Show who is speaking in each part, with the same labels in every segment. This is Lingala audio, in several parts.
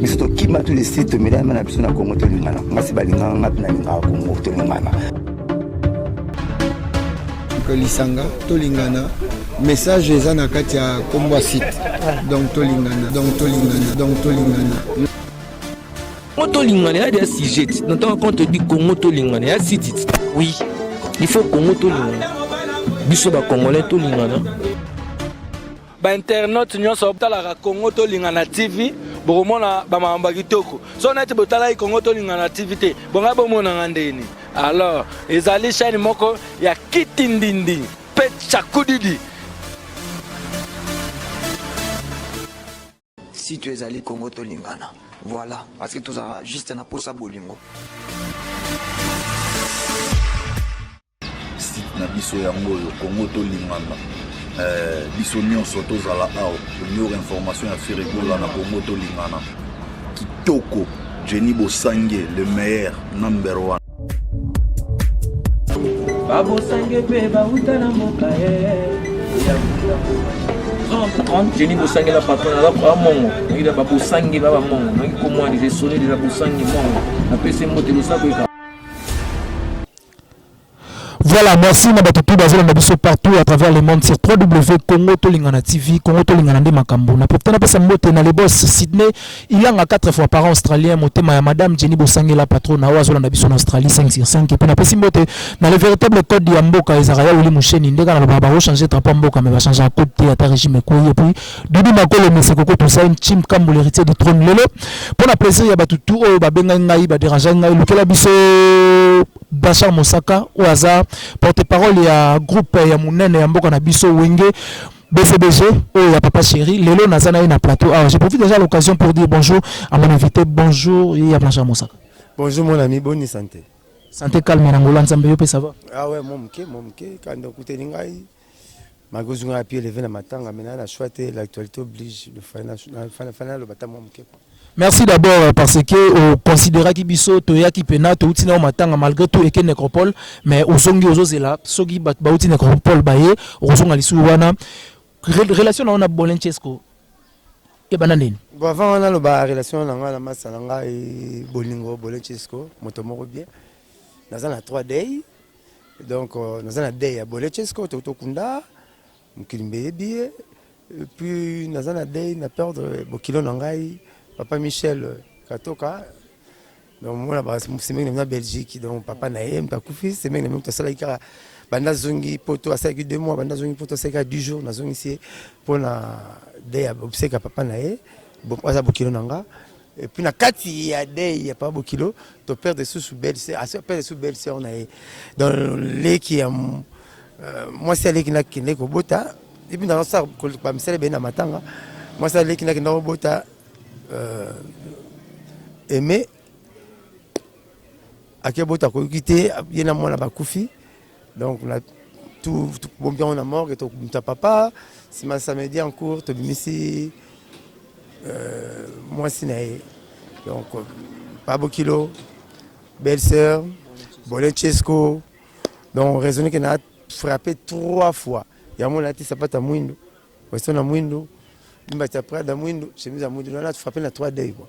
Speaker 1: biso tokima tu lesi tomelama na biso na kongo tolingana ngasi balingaka nga mpe nalingaka kongo tolingana
Speaker 2: lisanga tolingana message eza na kati ya nkombo ya site donc tolingana donc tolingana donc tolingana
Speaker 3: Congo tolingana ya dia sujet na ntango quand odi Congo tolingana ya sitit oui il faut Congo tolingana biso bacongolais tolingana
Speaker 4: bainternaute nyonso botalaka congo tolingana tv bokomona bamakambo ya kitoko so neti botalaki congo tolingana tv te bongai bomonanga ndeni alors ezali chaîne moko ya kitindindi mpe chakudidi
Speaker 5: si tu ezali congo tolingana voilà parce que tozala juste na posa bolingo
Speaker 6: site na biso yango oyo congo tolingana eh, biso nyonso tozala awa tonyora information ya firigola na congo tolingana kitoko jenny bosange le meilleur number one
Speaker 3: babosange mpe bauta na mboka ye jeni bosangela patron aza bamongo nakita babosange ba bamongo naki komwana eza esoni eza bosange mongo napesi mbote losako eka
Speaker 7: Voilà, merci na bato tout bazela na biso partout à travers le monde sur www.congo tolingana TV, Congo tolingana nde makambo. Na profiter na pesa mbote na le boss Sydney Ilanga 4 fois par an australien motema ya madame Jenny Bosangela patrona oyo azolanda biso na Australie 5 sur 5 epuis napesi mbote na le véritable code ya mboka ezalaka ya Willy Musheni nde kaka nalobaka bakochanger drapeau ya mboka mais bachangaka code te ata régime ekwei epuis Dudu Makolo Mese Koko Toussaint Chim Kambu l'héritier du trône lelo mpo na plaisir ya bato tout oyo babengaki ngai baderangeaki ngai lukela biso Bachar Mosaka oyo aza porte-parole ya groupe ya monene ya mboka na biso Wenge BCBG oyo ya papa chéri lelo naza na ye na plateau awa je profite déjà l'occasion pour dire bonjour à mon invité bonjour ya Blanchard Mosaka bonjour mon ami
Speaker 2: boni santé santé calme na
Speaker 7: ngola nzambe yo pe ça va ah ouais mon moke mon
Speaker 2: moke kanda okuteli ngai makozunga ya pied levé na matanga mais na na choix te l'actualité oblige le fana fana fana lo batamo moke Merci d'abord euh,
Speaker 7: parce que au euh, considéra ki biso to ya ki pena to utina au matanga malgré tout eke necropole mais au songi ozo zela soki ba ba utina necropole ba ye au songa lisu wana relation na ona bolenchesco e bana nini bon avant wana lo ba
Speaker 2: relation na nga na masa na nga e bolingo bolenchesco moto moko bien naza na 3 day donc euh, naza na day ya bolenchesco to to kunda mokili mbe eyebi ye puis naza na dei na perdre bokilo na ngai papa michel katoka donc mona basemeki na belgique donc papa na ye mpe akufi semeki na mpe asalaki kaka banda azongi poto asalaki deux mois banda azongi poto asalaki kaka 10 jours nazongisi ye mpo na dei ya obseka papa na ye aza bokilo na nga Et puis na kati ya dei ya pa bokilo to perdre sous sous belle sœur, aso perdre sous belle sœur na ye. Dans leki ya euh, moi c'est leki na kende ko bota. Et puis dans ça ko ba misele bena matanga. Moi c'est leki na kende ko bota euh aimé akebota ko kite yena mwana bakufi. donc na tobombi yango na morgue tokumisa papa nsima samedi en cours tobimisi euh, mwasi na ye donc euh, pabokilo belle sœur bolencesco donc raisonne ke na frappe trois fois yango nalati sapata mwindo westo na mwindo mbati ya prada mwindo chemise ya mwindo nana frappe na trois dei quoi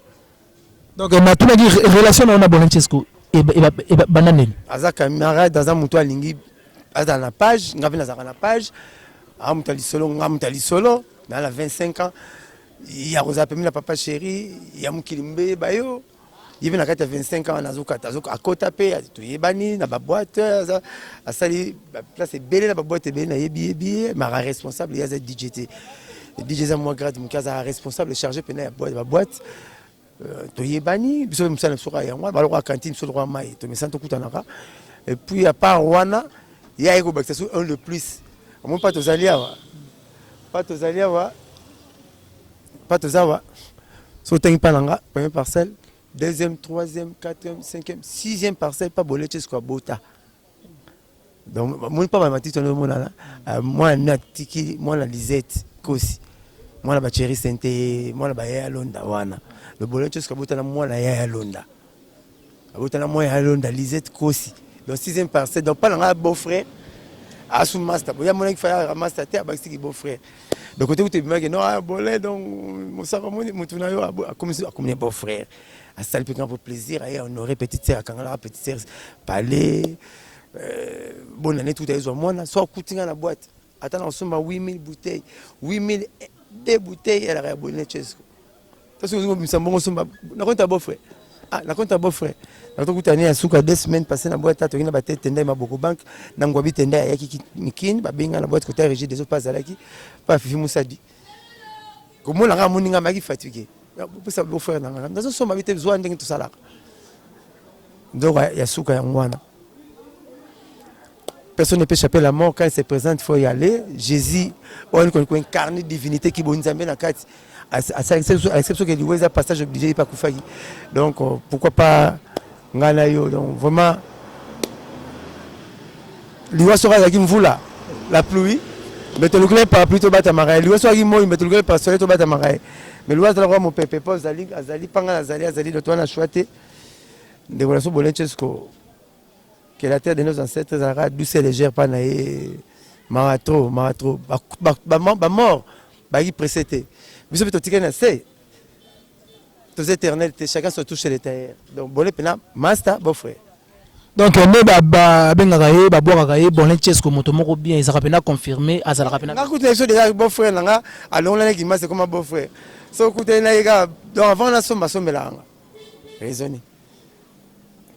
Speaker 2: Donc
Speaker 7: na tuna ki relation na ona Bonancesco e ba e ba banda nini? Aza camarade,
Speaker 2: aza mutu alingi aza na page, nga pe nazaka na page. A mutu lisolo, nga mutu lisolo, na la 25 ans. Ya kozala pembeni na papa chéri, ya mokili mbe bayo. Ye pe na kati ya 25 ans nazo kata, azo akota pe toyebani na ba boîte, aza asali ba place ebele na ba boîte ebele na yebi yebi ye, mara responsable ye aza DJ te. DJ eza mwa grade moke aza responsable chargé mpena ya boite baboite euh, toyebani biso mpe mosala na biso kaka yango wana balokola cantine biso lokola mai tomesana tokutanaka epuis ya part wana ye aye kobakisa so un de plus omoni mpa tozali awa mpa tozali awa mpa toza awa so otangi mpa na nga premier parcelle deuxième troisième quatrième cinquième sixième parcelle mpa boleche siko abota donc moni mpa bamatiti wana omonana euh, mwana nini atiki mwana lisette kosi mwana bacheri sente mwana baya ya londa wana lobolo ncosi kabotana mwana ya ya londa abotana mwana ya londa lisette kosi donc sixième parcelle donc mpa na ngai beau frère asu master boya mona kifaya master te abakisi ki beau frère donc kote kutu ebimaki no ah, bole donc mosaka moni mutu na yo akomisi akomini beau frère asali mpe nga mpo plaisir aye honore petite sœur akangalaka petite sœur palais euh, bona neti kuta ezwa mwana so akuti nga na boite ata na kosomba 8000 bouteille 8000 de bouteille elaka ya boye nechesco to soki ozi kobimisa mbongo osomba nakonta beau frère ah nakonta beau frère nakotokuta ne ya suka deux semaines passé na boite atoki na bate tenda ya maboko banque na ngwabi tenda ayaki mikini babenga na boite kota régie des eaux mpe azalaki mpe afifi mosadi komona nga moni nga maki fatigue pesa bo frère na nga nazo soma bite zwa ndenge tosalaka ndoka ya suka ya ngwana personne ne peut échapper la mort quand il se présente faut y aller Jésus on ko ko incarner divinité ki bonzambe na kati à l'exception que liweza passage obligé pas kufaki donc euh, pourquoi pas Nga na yo donc vraiment liwa soki azalaki mvula la pluie mais tolukela ye parapluie tobatamaka ye liwa soki azalaki moi mais tolukela ye parasole tobatamaka ye mais liwa azalaka mopepe mpo azali azali mpa nga nazali azali doto wana shwa te ndeko na so bolencesko que la terre de nos ancêtres ezalaka douce et légère mpa na ye mawa trop mawa trop bamort bayaki presse te biso mpe totikali na se toza éternel te chacun soit touche le tailleur donc bone pena master beau frère donc nde
Speaker 7: babengaka ye babwakaka ye bonne chesco moto moko bien ezalaka mpena confirme azalaka mpena nga kutu na biso deja beau
Speaker 2: frère na nga alongola na kimasa ekoma beau frère so okutani na ye kaka donc avant nasomba asombelaka nga raisonne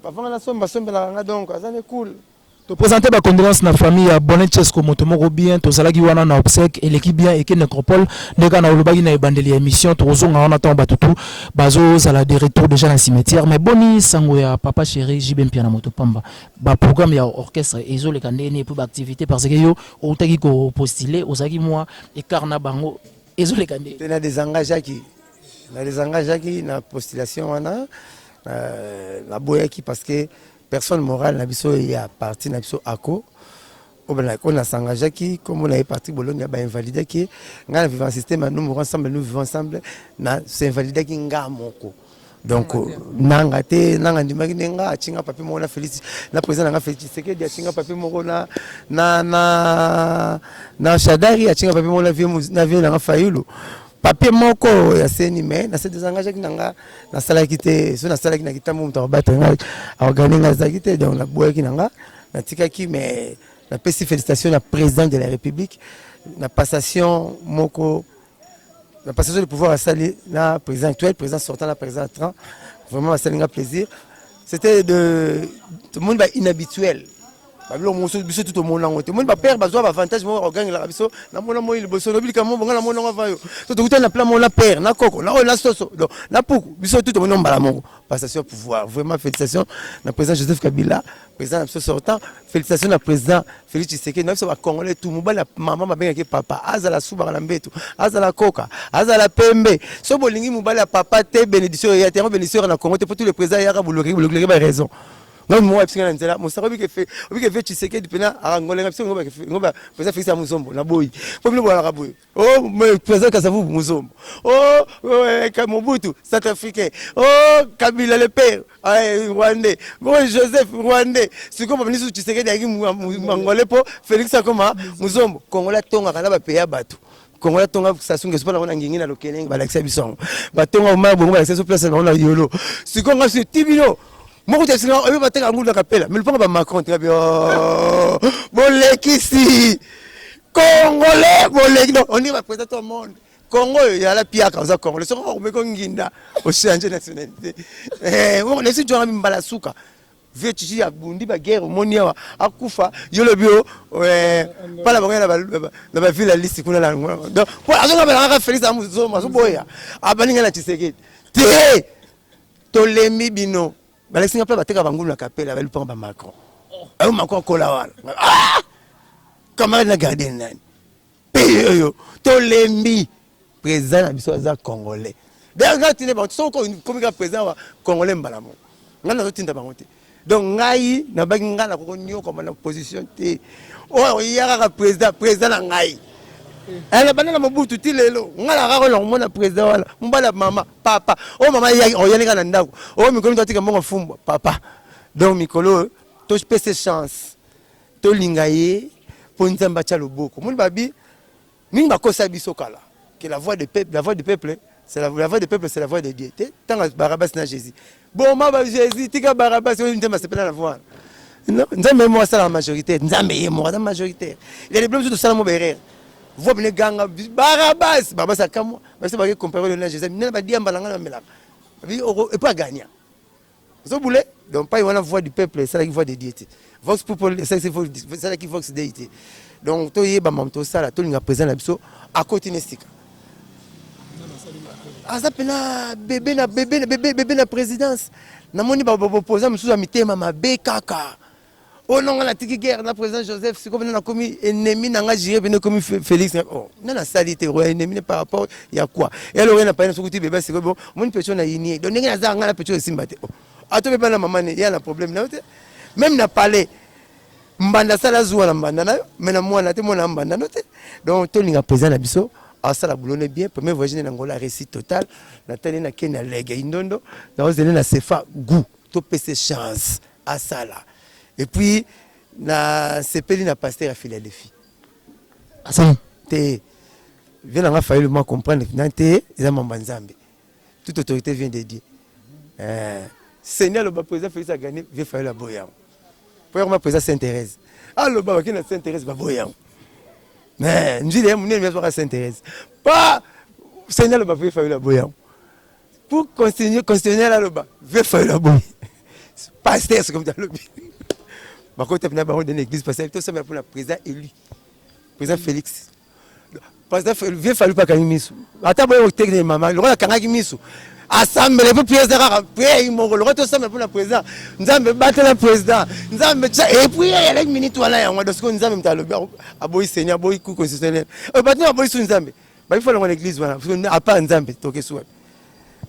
Speaker 2: avant nga nasomba asombelaka nga donc aza ne cool To presenter ba
Speaker 7: condoléances na famille ya Bonnet Chesco moto moko bien tozalaki wana na obsèque eleki bien eke necropole nde kaka na olobaki na ebandeli ya emission tokozonga wana ntango bato tout bazozala de retour déjà na cimetière mais boni sango ya papa cheri JB Mpiana moto pamba ba programme ya orchestre ezoleka ndenge nini mpo ba activité parce que yo outaki ko postuler ozalaki mwa écart na bango ezoleka ndenge mpe na desengageaki
Speaker 2: na desengageaki na postulation wana euh, naboyaki parce que Personne morale na biso ya parti na biso ako on a s'engagé qui comme on avait parti Bologna ba invalidé qui nga vivant système nous mourons ensemble nous vivons ensemble na s'invalidé qui nga moko donc nanga te nanga ndimaki nde nga atinga papier moko na félix na président nanga félix tshisekedi atinga papier moko na na na na shadari atinga papier moko na vie na vie nanga fayulu papier moko ya seni mais na se desengageaki na nga nasalaki te so nasalaki na kitambo moto akobatela nga aorgane nga azalaki te donc naboyaki na nga natikaki mais napesi félicitation na président de la république na passation moko na passation de pouvoir asali na président actuel président sortant na président tran vraiment basali nga plaisir c'était de monde ba inhabituel babilo mosusu biso tu tomona yango te omoni bapere bazwa baavantage moko bakogangelaka biso namona moi liboso lobi likambo bonga namona yango avayo so tokutani na plan moko na pere na koko na oyo na soso donc na puku biso tu tomoni mbala moko passation pouvoir vraiment félicitation na président joseph kabila président na biso sortant félicitation na président félix tshisekedi na biso bacongolais tu mobali ya mama babengaki papa azala subaka na mbetu azala koka azala pembe so bolingi mobali ya papa te bénédiction eya te yango bénédiction na congo te mpo tu le président eyaka bolokeki bolokileki ba raison Ngai mwa bisinga na nzela mosaka obike fe obike fe Tshisekedi pena arangola ngai bisinga ngoba ngoba pesa fisa muzombo na boyi po bino bwala kabuye oh me pesa kasa vubu muzombo oh ka mobutu South Africain oh Kabila le père ay Rwandais bo Joseph Rwandais siko ba ministre Tshisekedi aki mangole po Felix akoma muzombo Kongola tonga kana ba peya batu kongo ya tonga sasu ngeso mpo na kona ngingi na lokelenge balakisa biso yango batonga omaya bongo balakisa biso place bango na yolo sikoyo nga soki ti bino moko te singa oyo bateka ngulu na kapela mais lopanga ba macron teka bio oh, bolekisi congolais boleki donc on dit ba président au monde kongo oyo yala piaka oza congolais soki okomeki onginda ochange nationalité eh, nesi jwanga mimbala suka Vieux Chichi abundi ba guerre omoni awa akufa yo lobi o eh, pala bango na ba na ba ville liste kuna la donc po azonga bana ka Felix amu zo maso boya abaninga na Tshisekedi te tolembi bino balakisi nga pe bateka bangulu na kapela balipanga ba Macron ayo Macron akola wana ah! camarade na gardien nani pays oyo tolembi président na biso aza congolais d'ailleurs ngai tinde bango soki okomi kaka président wa congolais mbala moko ngai nazotinda bango te donc ngai nabaki ngai nakoko nyokoma na position te oyo oya kaka président président na ngai eh, na banda na mobutu ti lelo ngai nakaka na komona président wana mobali ya mama papa oyo mama yaki oyani kaka na ndako oyo mikolo mito atika mbongo fumbwa papa donc mikolo oyo topese chance Tolinga ye po Nzambe atia loboko. Moni babi mingi bakosa biso kala que la voix de peuple, la voix du peuple c'est la, la voix de peuple c'est la voix de Dieu. Te tanga Barabas na Jésus. Boma ba Jésus tika Barabas oyo Nzambe asepela na voix. Non, Nzambe ye moko asala na majoritaire. Nzambe ye moko aza majoritaire. Il y a des problèmes tosala mo berer. Voix bine ganga Barabas, Barabas akamwa. Basi baki comparer le na Jésus. Nana ba diamba na ngana melaka. Bi oko epa gagna. Ozo boule donc pai wana voix du peuple esalaki voix de Dieu te vox popol esalaki vox dei te donc toyeba mamu tosala tolinga président na biso akoti na esika aza mpena bebe na bebe na bebe na présidence namoni babopoza mosusu ya mitema mabe kaka oyo nanga natiki guerre na président joseph sikoyo bino nakomi ennemi na nga jire bino ekomi félix oh, nga nasali te oya ennemi ne par rapport ya quoi eloko ye na paye na soki ti bebe sikoyo bo omoni pecho na yinie donc ndenge nazaka nga na pecho esimba te oh, ato beba na mama ne ya na problème na yo te même na palais mbanda asala zuwa na mbanda na yo mais na mwana te mwana ya mbanda no te donc tolinga président na biso asala boulot ne bien premier voyage ne na ngola réussite totale natali na kenya lege indondo naozele na sefa gout To pese chance asala. Et puis na sepeli na pasteur ya Philadelphie.
Speaker 7: Asala te.
Speaker 2: Viens nga faille moi comprendre na te eza mamba Nzambe. Toute autorité vient de Dieu. Euh, Seigneur le président Félix a gagné, viens faille la boyang. Pour moi président Sainte Thérèse. Alors ba wakina Sainte Thérèse ba boyang. Mais nzile ya munene ya Sainte Thérèse. Pas Seigneur le président Félix la boyang. Pour continuer, constitutionnel aloba, vieux Fayulu aboyi. Pasteur, c'est comme ça alobi. Bakota pina bango dans l'église parce que tout ça pour la président élu. Président Félix. Président Félix, vieux Fayulu pas kangi misu. Ata boyo tekne mama, lokola kangaki misu. asambele mpo priere eza kaka priere moko lokola tosambela mpo na président nzambe batela président nzambe tya epriere eleki miniti wana yango dosko nzambe moto alobi aboyi seigneur aboyi ku constitutionnel oyo bato na aboyi su nzambe Baki fana ngone église wana à part Nzambe toke suwa.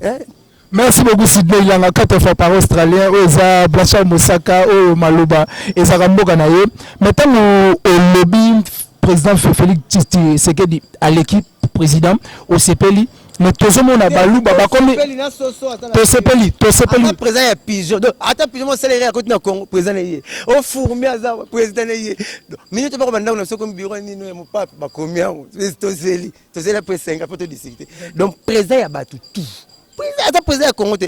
Speaker 2: Eh
Speaker 7: Merci beaucoup Sidney Langa quatre fois par australien oyo eza Blanchard Mosaka oyo maloba ezaka mboka na ye mais ntango olobi président Félix Tshisekedi aleki président osepeli mais tozomona baluba bakomi tosepeli tosepeli président ya
Speaker 2: pigeon donc ata pigeon mosala ye akoti na congo président na ye ofurmi aza président na ye minute bakobanda ndako na biso komi biro nini Pape bakomi yango tozeli tozeli apres 5 apres to discuter donc présent ya bato tout aza présent ya Congo te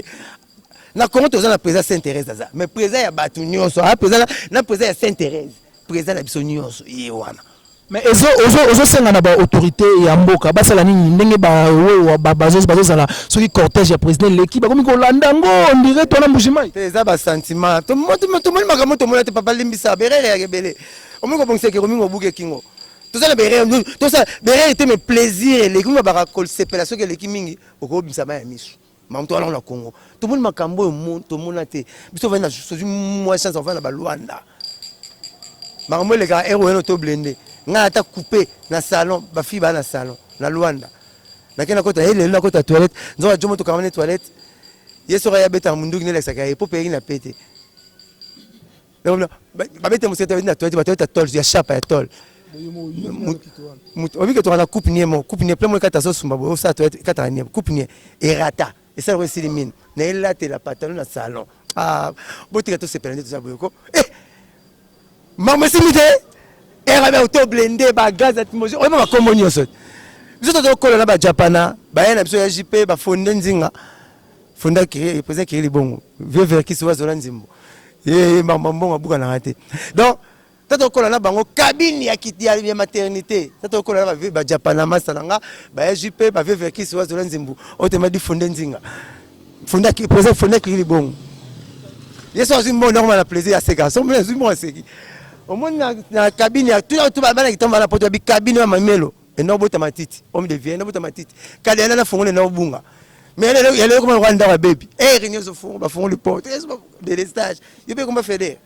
Speaker 2: na Congo toza na présent Sainte Thérèse aza mais présent ya bato nyonso a présent na présent ya Sainte Thérèse présent na biso nyonso ye wana mais ezo ozo
Speaker 7: ozo senga na ba autorité ya mboka basala nini ndenge ba wewa ba bazo bazo zala soki cortège ya président leki bakomi kolanda ngo on dirait tona mbujimayi eza ba sentiment
Speaker 2: to moto moto moni makambo to mona te papa limbisa berere ya kebele omi kobongisa ekeko mingi obuki ekingo toza na bere tosa bere ete me plaisir eleki mingi babaka kosepela soki eleki mingi okobimisa mai ya miso mamutu wana na congo tomoni makambo oyo tomona te biso ovandi na soki mwa chance ovandi na balwanda makambo elekaka ero eno to blende ngai ata coupe na salon bafi baa na salon na lwanda nake nakota ye lelo nakota toilette nzoka jomo tokangani toilette ye soki ayabetaka monduki nelekisaka ye po peyeki na pete babete mosete babeti na toilette batoilette ya tol ya shapa ya tol moto oyebi ketoka na coupe nie moko coupe nie plein moko ekata azosumba boye osala toilette ekataka nie coupe nie erata esala ko esili mini na elatela pantalon na salon ah, botika tosepela nde toza boye ko eh, makambo esili te erabe auto blende bagaz atimosi oyeba bakombo nyonso biso tozokola na bajapana baye na biso ya jp bafonde nzinga Fonda kiri, pesa kiri libongo. Vieux Verkis wa zola nzimbo. Eh, mamba mbongo abuka na rate. Donc, tata okola na bango cabine ya kiti ya, ya maternité. Tata okola na ba vieux ba Japana masala nga, ba ya JP, ba vieux Verkis wa zola nzimbo. Otema di fonde nzinga. Fonda kiri, pesa fonda kiri libongo. Yesu azui mbongo ndako na plaisir ya seka. Somo azui mbongo aseki. Omoni na, na cabine ya tout tout ba bana kitamba na poto ya bi cabine ya mamelo. ena obota matiti homme de vie ena obota matiti kala yana na fongole na obunga mais lelo ya lelo koma kwa ndako ya baby eh renyo zo fongo ba fongo le porte eh ba délestage yo pe koma feder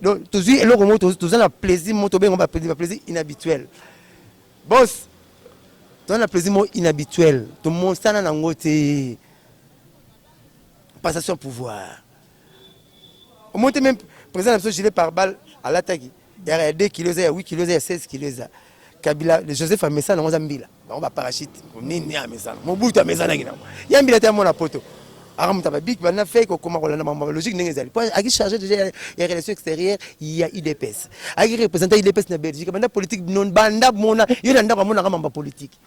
Speaker 2: donc tozui eloko mo toza na plaisir mo tobenga ba plaisir ba plaisir inhabituel boss toza na plaisir mo inhabituel tomosana na ngo te passation pouvoir omoni te meme président na biso gilet par balle alataki ya ya 2 kilo eza ya 8 kilo eza ya 16 kilo eza kabila le joseph amesana yango aza mbila bango baparachute nini amesana mobutu amesanaki nango ya mbila te amona poto akamuta babik bana fei kokoma kolanda mambo logique ndenge ezali po aki charge déjà ya- ya relation extérieure ya udps aki représenta udps na belgique banda politique non banda mona yo na ndako amonaka mambo ya politique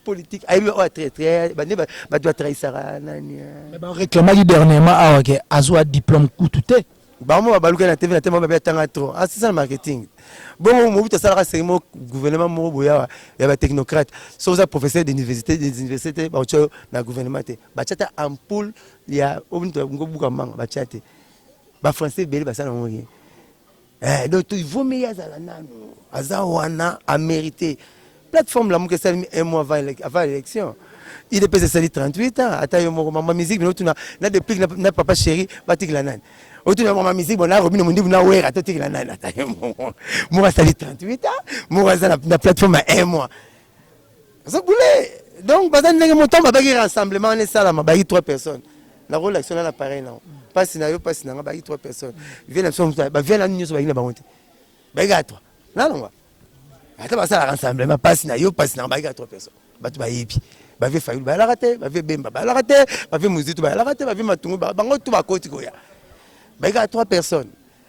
Speaker 2: politique ayebi oyo traitre bande bato batrahisaka nani bareclamaki
Speaker 7: dernièrement awa ke azwa diplôme kutu te bango babaluka
Speaker 2: na tv na te mabe atanga trop asisana ah, marketing bongo mobutu asalaka seri moko gouvernement moko boyawa ya batechnocrate soki oza professeur d'université des universités te baotya yo na gouvernement te batya ta ampoule ya obuka manga batya te bafrançais ebele basala yango ye Eh, donc il vaut mieux azala nanu aza wana a mérité plateforme lamuka esalemi un mois avant l'élection il epesa esali 38 ans ata yo moko mama musique bino otuna na deplique na, na papa chéri batikela nani otuna mama musique bona robino mundibu na wera totikela nani ata yo moko moko asali 38 ans moko aza na, na plateforme ya un mois Zagule donc baza ndenge motango abaki rassemblement wana esalama bayi 3 personnes nakolakisa na na pareil nango mpasi na yo mpasi na nga bayi 3 personnes vie na biso bavie na nyonso bayi na bango te bayi kaka 3 nalongwa ata basala rassemblement mpasi na yo mpasi na nga bayi kaka 3 personnes bato bayebi bavie fayulu bayalaka te bavie bemba bayalaka te bavie mozitu bayalaka te bavie matungu bango tu bakoti koya bayi kaka 3 personnes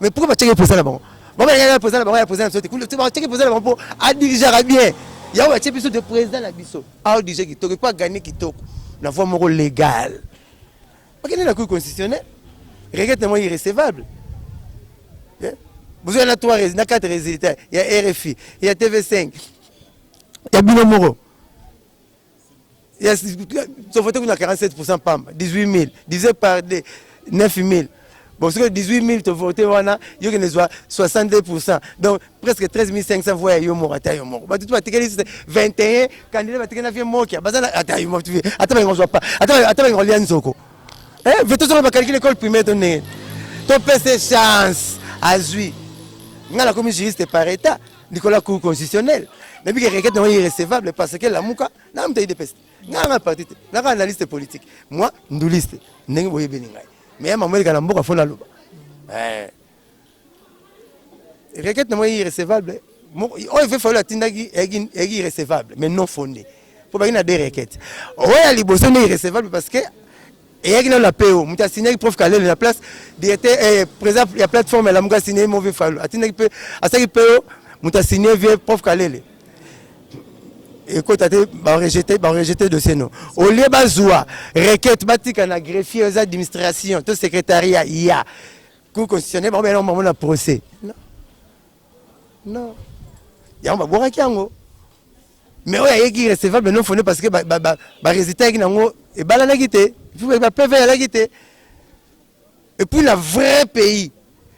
Speaker 2: Mais pourquoi ba checker président na bango? Ba ba ya président na bango ya président sote. Kule tu ba checker président na bango a diriger bien. Ya ba checker biso de président na biso. A diriger ki toko pas gagner ki toko. Na voie moko légale. Ba kende na cour constitutionnelle. Regrette na moi irrecevable. Yeah. Vous avez na trois na quatre résultats. Ya RFI, ya TV5. Ya bino moko. to vote kuna 47% pamba 18000 divisé par 2 9000 bon soki 18000 to vote wana yo kende zwa 62% donc presque 13500 voix ya yo moko ata yo moko bato tu batikeli 21 candidat batikeli na vie mokia baza na ata yo moko ata balinga zwa pa ata ata balinga lia nzoko eh veto soko bakalkile école primaire to ndenge to pese chance azwi nga nakomi juriste par état likolo ya cour constitutionnel nayebi ke requête nango irrecevable parce que lamuka nanga moto idps nanga nga parti te nanga analyste politique moi nduliste ndenge boyebeli ngai mais ya mama eleka na mboka fo naloba eh. requête nango irrecevable oyo fe fayolo atindaki eyaki irrecevable mais non fondé mpo baki na deux requête oyo ya liboso nde irrecevable parce que eyaki nano na PO moto asignaki prof Kalele na place directeur eh, président ya plateforme ya Lamuka asignaki Move Falu atindaki pe asaki PO moto asigne vie prof Kalele ekota te barejete barejete dossier no au lieu bazwa requête batika na greffier eza administration to secrétariat ya cour constitutionnel bango bena bango na procès non non yango babwakaki yango mais oyo ayeki irrecevable non fondé parce que ba, ba, ba, ba résultat ayeki nango ebalanaki te ba PV alaki te et puis la vrai pays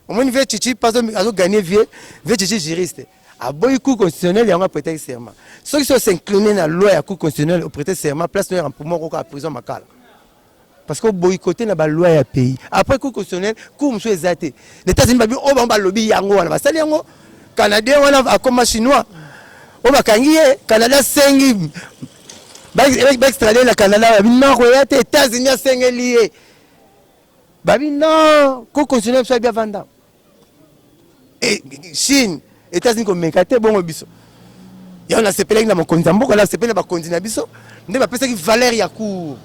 Speaker 2: omoni vie chichi pas azo gagner vie vie chichi juriste aboyi cour constitutionnel yango aprete serment soki so s'incline na loi ya cour constitutionnel oprete serment place noyo ya mpumo koko ya prison makala parce que o boycotter na ba loi ya pays après cour constitutionnelle cour mosusu eza te na États-Unis babi oyo bango balobi yango wana basali yango canadien wana akoma chinois oyo bakangi ye canada asengi baextrade na canada babi non koya te États-Unis asengeli ye babi non cour constitutionnelle biso abi avanda Eh, Chine, États-Unis komeka te bongo biso. Yango nasepelaki na mokonzi ya mboka, nasepeli na bakonzi na biso nde bapesaki valeur ya cour.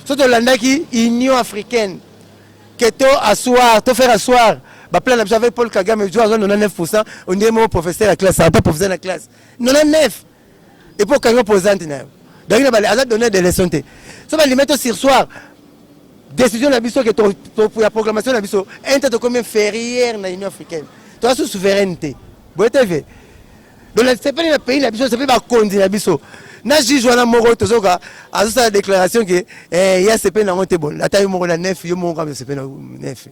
Speaker 2: So tolandaki Union africaine que to asseoir, to faire asseoir ba plan na biso avec Paul Kagame, jo azwa 99%, on dirait moko professeur ya classe, pas professeur na classe. 99 et puis okanga posante na yo donc na bale aza donner des leçons te so balime to sur soir décision na biso ke ya programmation na biso inter tokomi inférieur na union africaine toza su souveraineté boye te ve donc nasepeli na pays na biso nasepeli bakonzi na biso na juge wana moko tozoka azosala déclaration ke eh, ye asepeli nango te bon ata yo moko na nef yo moko kama osepeli na nef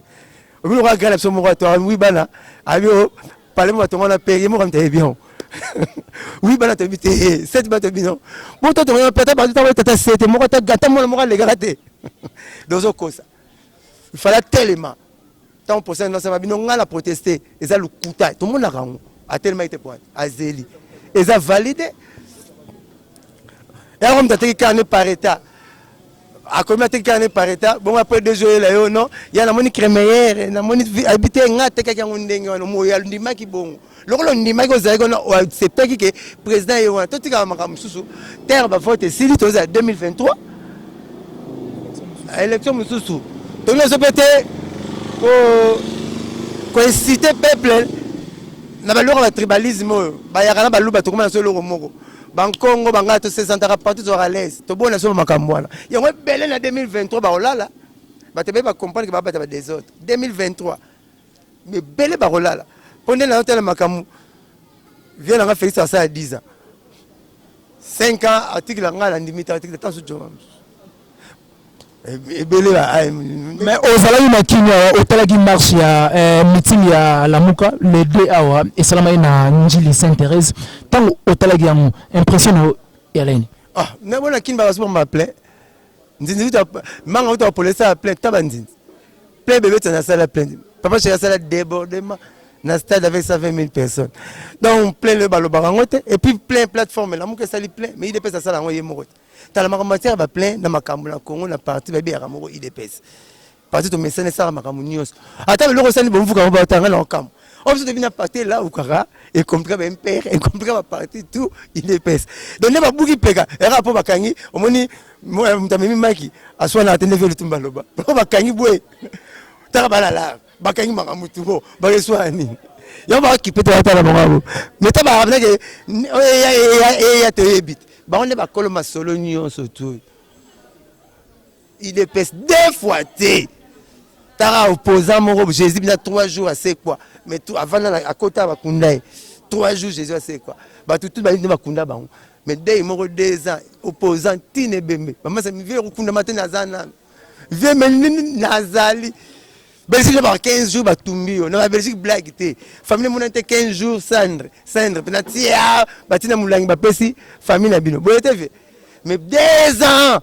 Speaker 2: obi lokola gra na biso moko ato awi bana abi Palais mo batonga na pere mo kamita ebion. Oui bana tobi te eh, set bana tobi non. Bo to tonga na pere ba to tata sete mo kata gata mo mo legaka te. Dozo kosa. Il fallait tellement tant pour ça non ça va bino ngala protester eza lukuta tout le monde a kango a tellement été point azeli eza validé et alors on t'a dit qu'il n'est pas état akomi ateki kaka ne par etat bongo apres deux jours yela yo non ya namoni cremeyere namoni abite nga atekaki yango ndenge wana moyo andimaki bongo lokola ondimaki ozalaki wana oacceptaki ke président ye wana totikaka makambo mosusu terre bavote esili tozala 2023 élection mosusu tonozo mpe te koincite peuple na baloko ya batribalisme oyo bayaka na baluba tokoma na so eloko moko bankongo bangala tosesantaka partout tozwaka à l'aise tobona biso bamakambo wana yango ebele na 2023 bakolala bato ebele bacomprendre ke babata badesordre 2023 ebele bakolala mpo nde nayo tala makambo vie nanga félix asala 10 ans 5 ans article ya ngai nandimi te article tanso joma mosusu ebele
Speaker 7: ba ah, mais ozalaki na kimia awa otalaki marche ya eh, meeting ya lamuka le 2 awa esalamaki na njili saint thérèse ntango otalaki yango impression na yo yalani ah nabona kini
Speaker 2: bakasuba ma plein nzinzi uta manga uta opolesa ya plein taba nzinzi plein bebeta na sala plein papa cheka sala débordement na stade avec 120 000 personnes donc plein le balobaka yango te et puis plein plateforme lamuka esali plein mais idps asala yango ye moko te tala makambo matière ba plein na makambo na Congo na parti ba biyaka moko IDPS parti to mesane sala makambo nyos ata loko sani bomvuka ba tanga na okambo on se devina parti là ou kaka et compliqué ba MPR et compliqué ba parti tout IDPS donc ne ba buki peka era po bakangi omoni mutamemi maki aswana atende velo tumba loba po bakangi boye tala bala la bakangi makambo tubo bakeswana nini yango bakipe te batala bango meta baabnake eya toyebi te bango nde bakolo masolo nyonso tu idps deux fois te tara opposant moko jésus bina trois jours asekwa mais tu avanda akota bakunda ye trois jours jésus asekwa bato tu balingi nde bakunda bango mais dei moko deux ans opposant tine ebembe bamasa mivele kokundama te naza nano Vieux Melin nazali Belgique ba 15 jours batumbi yo na ba Belgique blague te famille mona te 15 jours cendre cendre pena tia batina mulangi bapesi famille na bino boye te vie mais deux ans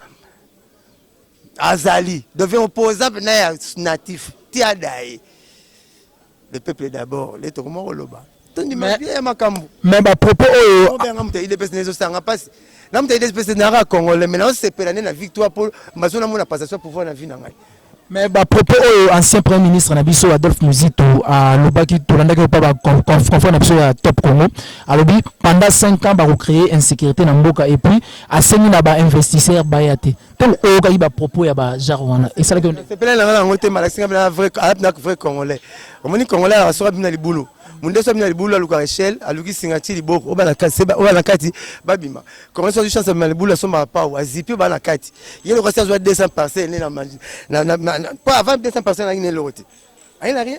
Speaker 2: azali devient opposant pena ya natif tia daye Le peuple d'abord, le toko moko loba. Tondi ma vie ya makambu. Mais ba propos oyo.
Speaker 7: Ko benga mutu ile
Speaker 2: pesa nezo sanga pasi. Na mutu ile pesa na ra congolais mais na sepela ne na victoire pour mazo na mona passation pouvoir na vie na ngai. Mais ba propos
Speaker 7: oyo ancien premier ministre na biso Adolphe Muzito a lobaki tolandaki pa ba confront na biso ya Top Congo. Alobi pendant 5 ans ba ko créer insécurité na mboka et puis asengi na ba investisseurs bayate. Tango oyokaki ba propos ya ba genre wana esalaki yo nde? Sepela na nga nango te
Speaker 2: mara singa bina vrai alap na vrai congolais. Omoni congolais ya soka bina libulu. Munde soka bina libulu aluka Rachel, aluki singa ti liboko oba na kati seba oba na kati babima. Congolais soka chance bina libulu asomba pau azipi oba na kati. Yelo kasi azwa 200 parcelles na na na pas avant 200 parcelles na ngine lokote. Aina rien.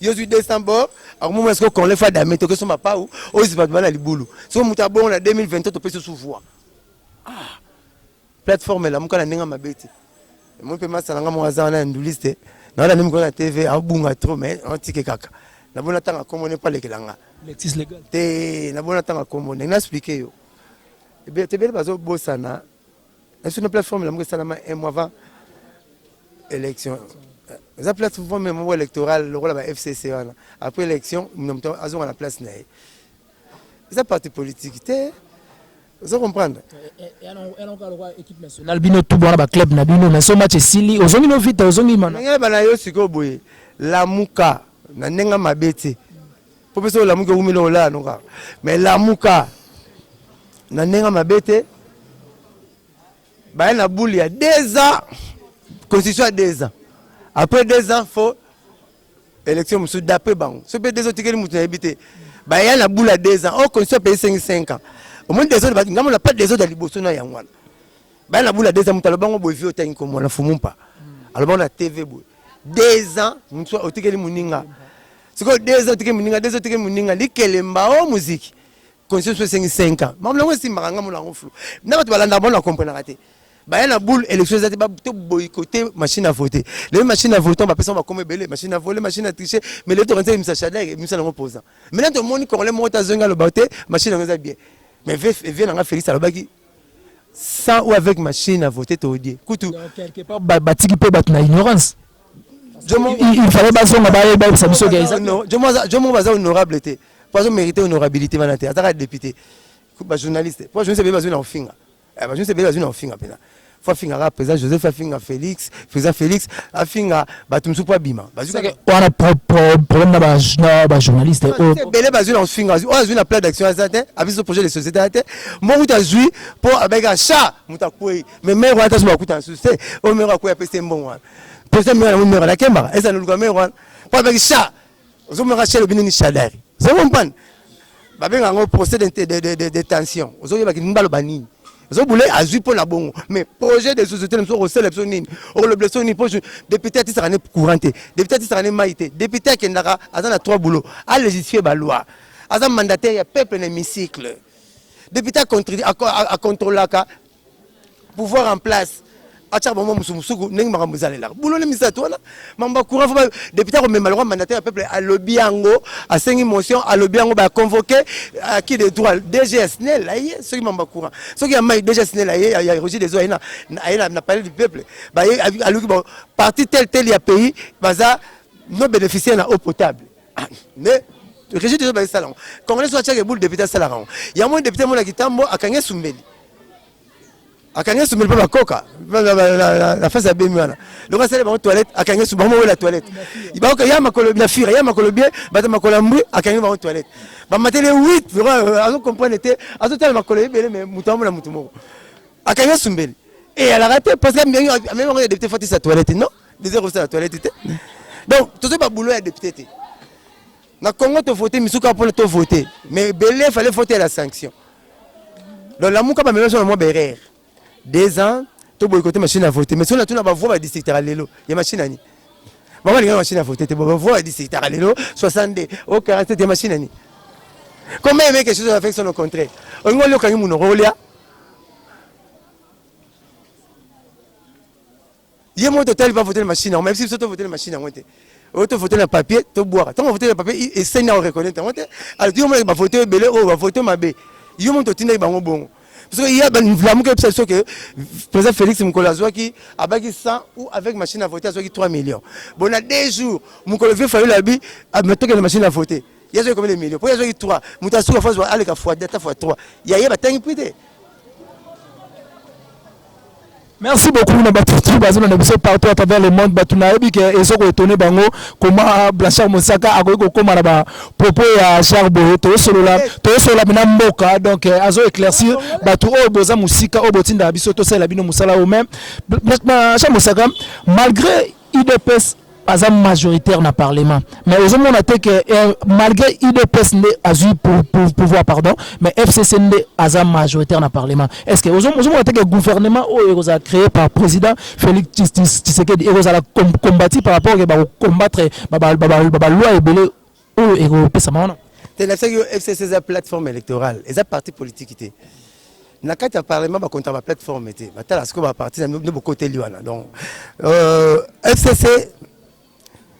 Speaker 2: yo zwi 200 bor akomoma esiko konle fa dame toke so mapau ozipa bima na libulu soki moto abongo na 2023 topesi osu voi ah, plateforme elamuka na ndenge mabe te moi mpe masala nga moko aza wana ya ndulisi te nawana mimi kona tv abunga trop mais otike kaka nabona ntanga kombo ne palekela nga te
Speaker 7: nabona ntanga
Speaker 2: kombo ndenge na explike yo ebele tebele bazobosana Est-ce que plateforme la salama un mois avant élection eza plateforme ya moko électorale lokola ba fcc wana après élection moto azonga na place na ye eza parti politique te ozo comprendre
Speaker 7: national bino tout wana baclub na bino mais so match esili ozongi no vita ozongi mana nayeba na yo sikoyo boye
Speaker 2: lamuka na ndenge mabe te Mpo mpe soki olamuki okomi nde kolala no kaka, mais lamuka na ndenge mabe te. Baye na boule ya deux ans, constitution ya deux ans, après deux ans fo élection mosusu d'après bango. Soki mpe deux ans otikeli moto nayebi te, baya na boule ya deux ans, o oh, constitution apesi sengi cinq ans. Omoni desordre bati ngambo na pas desordre liboso na yango wana. Baya na boule ya deux ans, moto alobango boye vie otangi komona fumumpa, alobango na TV boye deux ans mosusu otikeli moninga sikoyo deux ans tike moninga deux ans tike moninga likelemba o muziki conscience esengi 5 ans makambo yango esimbaka nga mona yango flou na bato balandaka bango na comprenaka te baya na boule élection eza te to boycote machine à voter lebi machine à voter bapesa ngo bakoma ebele machine à voler machine à tricher mais lebi tokanisa emisa shadlek emisa nango posa maintenant tomoni congolais moko te azongi aloba te machine yango eza bien mais vie na nga félix alobaki sans ou avec machine à voter toyebie kutu batiki
Speaker 7: mpe bato na ignorance
Speaker 2: il fallait bazonga bayebisa biso jomo baza honorable te mpo azo mérite honorabilité wana te azaka député bajournaliste mpo bajournaliste ebele bazwi na kofinga bajournaliste ebele bazwi na kofinga mpenza fo afingaka président joseph afinga félix président félix afinga bato mosusu mpo abima wana
Speaker 7: problème na bajournaliste oyo ebele bazwi na
Speaker 2: kofinga oyo azwi na plat d'action aza te abiso projet de société ya te moko kuta azwi mpo abengaka cha moto akwei mais mare wana taso bakuta na susu te oyo mare akwei apesi ye mbongo wana président mare yango mare alakembaka eza na luka mare wana mpo abengaki cha Ozo mona kasi alobi nini Shadari. Vous comprenez? Babenga yango procès de, de, de, de, de tension. Ozo yeba ki nimba loba nini. Ozo boule azui mpo na bongo. Mais projet de société na biso okosala biso nini? Okoloba biso nini? Mpo député atisaka ne courant te. Député atisaka ne mai te. Député akendaka aza na trois boulot. A légifie ba loi. Aza mandataire ya peuple na hémicycle. Député a contrôlaka pouvoir en place atyaka bango mosumosuku ndenge makambo ezalelaka bulole misato wana mambo ya courant fo depute akomema lokwa mandataire ya peuple alobi yango asengi motion alobi yango baconvoke aki euh, de droit dg ya snel aye soki mambo ya courant soki ya mai dg ya snel aye ya roger deso aye na palais du peuple baye aluki ba parti tel tel ya pays baza no bénéficier na eau potable ah, mais régime deso baye sala yango congolais so atyaka eboule depute asalaka yango yango depute mona kitambo akangi esumbeli akangi esu mpe bakoka na face ya bemi wana donc asali bango toilette akangi esu bango mowela toilette baoka ya makolo na fira ya makolo bie bato makolo ya mbwi akangi bango toilette bamateli 8 euh, azo comprendre te azotala makolo ebele me moto amona moto moko akangi esu mbeli eyalaka te parce que amemi bango ya depute fatisa toilette non deuxième kosala toilette te donc tozwi babulo ya depute te Na Congo to voter misu kaka pona to voter mais belé fallait voter la sanction. Donc la muka ba meme sur moi berer. Deux ans to boycotter machine à voter mais si on a tout na ba voix ba district à lelo ya machine ani. Ba wali machine à voter te ba voix ba district à lelo 62 au 47 ya machine ani. Comment aimer quelque chose à faire son au contraire. On ngoli okangi muno rolia. Ye moko totali ba voter machine yango, mais biso to voter machine yango te. Oyo to voter na papier, to bwaka. Tango voter na papier, eseni na reconnaître yango te. Alors yo moko ba voter ebele oyo ba voter mabe. Yo moko totindaki bango bongo. Parce que ya lamuka ebisa biso que président Félix mokolo azwaki abaki 100 ou avec machine à voter azwaki 3 millions. Bon na 2 jours, mokolo vieux Fayulu abi ametoke na machine à voter. Ya zwe combien de millions? Po ya zwe 3. Muta suka fois wa aleka fois 2 ta fois 3. Ya ye ba tangi prix te.
Speaker 7: Merci beaucoup na batu tout bazo na biso partout à travers le monde batu na yebi ke ezoko étonner bango comment Blanchard Mosaka akoki kokoma na ba propos ya Charles Boye to solola to solola bina mboka donc euh, azo éclaircir batu oyo boza musika oyo botinda biso to sala bino musala au même Charles Mosaka malgré udps aza majoritaire na parlement mais ozomona te que eh, malgré udps nde azwi pouvoir pardon mais fcc nde aza majoritaire na parlement est ce que ozomona te que gouvernement oyo ekozala créé par président félix tshisekedi ekozala combati par rapport ke bakocombattre baloi ebele oyo ekopesama wana te. Nayebisaki yo FCC
Speaker 2: eza plateforme electorale, eza parti politiki te. Na kati ya parlement bakonta ba plateforme te, batala sikoyo ba parti nde bokoteli wana. Donc euh, FCC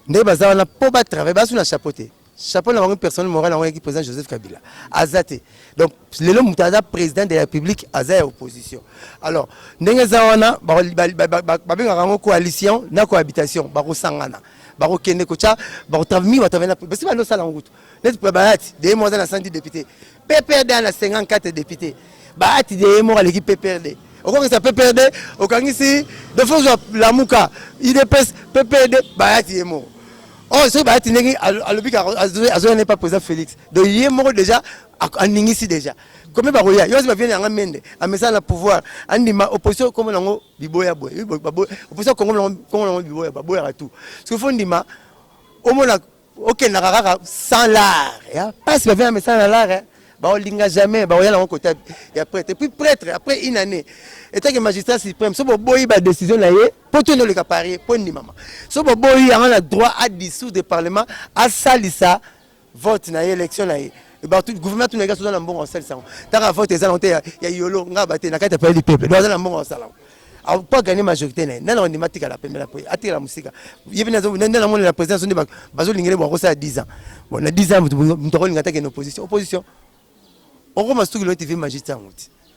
Speaker 2: nde baza wana mpo batravaille, basu na chapeau te chapeau na bango personnel moral yango yaki président joseph kabila aza te donc lelo moto aza président de la république aza ya opposition alors ndenge eza wana babengaka yango coalition na cohabitation bakosangana bakokende kotya bakotrami batravena basi bando osala yango kutu neti mpo baati deye moko aza na 110 député pprd ana 54 député baati deye moko aleki pprd okokisa pprd okangisi defo ozwa lamuka idps pprd baati ye moko oyo oh, soki baati ndenge alobi azoya nepa président félix donc ye moko déjà aningisi déjà combien bakoya yo osi baviene yanga mende amesana na pouvoir andima opposition komona yango biboya boye oui, ba- baboya oposa kongo na kongo na biboya baboyaka tout soki fo ndima omona okendaka kaka sans lar ya pasi bavia na mesana na lar eh. baolinga jamais baoya nango kota ya prêtre epuis prêtre après une année etake magistrat suprême so boboyi badécision na ye mpo to noleka parie mpo ndimama so boboyi yango na droit adissoudre parlement asalisa vote na ye election na ye gouvernement tuna ekasi oza na mbongo osalisa yango taka vote eza nango te ya yolo nga bate na kati ya pale du peuple do aza na mbongo osala yango po aganye majorité na ye nani akondima atikala pembela po atikala mosika ye bene nde namonela président so nde bazolingele bo akosala 10 ans bon na 10 ans moto akolinga atake na opposition opposition okoma suki loye tv magiste yango ti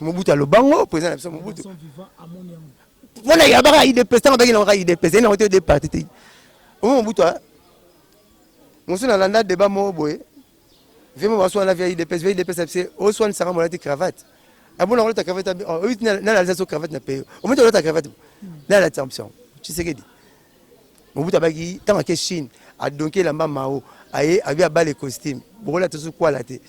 Speaker 2: Mobutu alobango president na biso Mobutu wana yabaka idps ntango abaki nangaka idps ye nango te de parti te omo mobutu mosu na landa deba moko boye vie mo baswana via idps via idps abise oswanisaka molati cravate abona kolata cravate oyo nalalisa so cravate na peyo omoni olata cravate nalalisa option tshisekedi Mobutu abaki ntango ake Chine adonki elamba Mao aye abi abale costume bokola tosu kwala te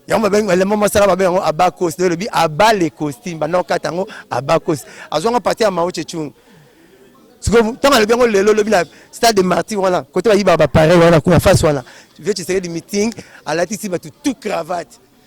Speaker 2: yango babengi elamba masala babengi yango abakos nde elobi abale costume banda okata yango abakos azwanga parti ya Mao Tse-tung sikoyo ntango alobi yango lelo lobi na stade de martyr wana kote bayibaka bapareil wana kuna face wana vie tshisekedi meeting alatisi bato tout cravate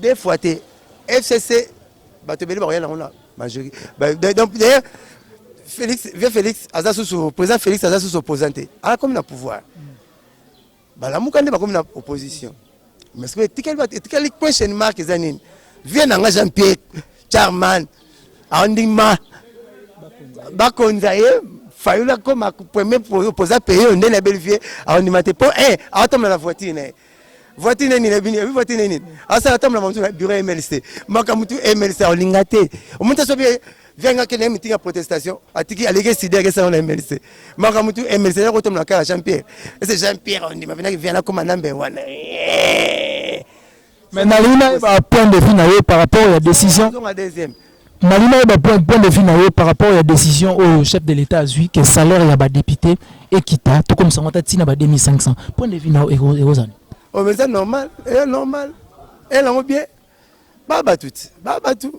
Speaker 2: Deux fois te FCC bato ebele bakoya nango na majori donc d'ailleurs Félix vieux Félix aza susu président Félix aza susu opposant te akomi na pouvoir balamuka nde bakomi na opposition mais sikoyo etikali bato etikali question mark eza nini vieux na nga Jean Pierre Charman andima bakonza ye fayulu akoma premier opposant paye yo nde na belle vieux andima te mpo eh, aotambola na voiture na ye voiture nini na bini voiture nini asala tambola mamutu na bureau ya mls te makambo tu mls aolinga te omoni ta soki vianga kende mitingi ya protestation atiki aleki esidi yake esalana na mls te makambo tu mls eza kotambola kaka jean pierre ese jean pierre ondima penaki viana akoma nambe wana
Speaker 7: mais nalingi nayeba point de vue na ye par rapport ya décision deuxième
Speaker 2: Nalingi nayeba
Speaker 7: point, point de vue na yo par rapport ya decision oyo chef de l'etat azwi que salaire ya ba deputes ekita tokomisa yango ata tii na ba 2500 point de vue na yo eko- ekozala nini? oyo mpenza normal
Speaker 2: eya normal eya nango bien ba bato ti ba bato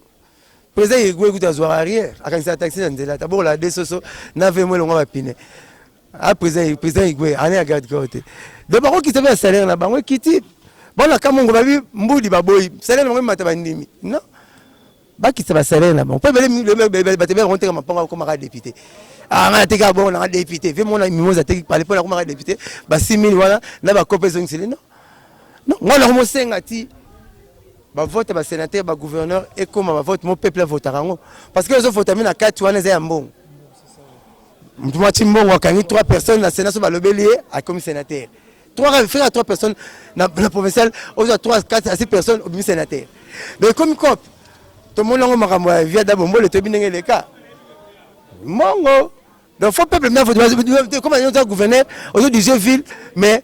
Speaker 2: président yegue kutu azwaka rien akanisaka taxi na nzela tabokola de soso na vmo elongwa bapine Ah, président président Igwe année ya garde corps te. Donc bako kisa ba salaire na bango kiti. Bana kamongo babi mbudi baboyi. Salaire na bango mata bandimi. Non. Ba kisa ba salaire na bango. Pe bele bele ba tebe ronte kama panga koma ka député. Ah nga teka bon na député. Ve mona mimoza teki pale pona koma ka député. Ba 6000 wana na ba kopes donc c'est non. Non, nga na mo senga ti bavote basénateur bagouverneur ekóma bavote mo peuple avotaka yango parce que ezovota mi na kati wana eza ya mbongo Mwa Chimbongo akangi 3 personnes na Sénat so balobeli ye akomi sénateur. 3 frère à 3 personnes na na provincial ozo 3 4 à 6 personnes obimi sénateur. Mais comme cop to mona ngo makambo ya via dabo mbole to binenge le cas. Mongo donc faut peuple mais faut comme on dit gouverneur ozo diriger ville mais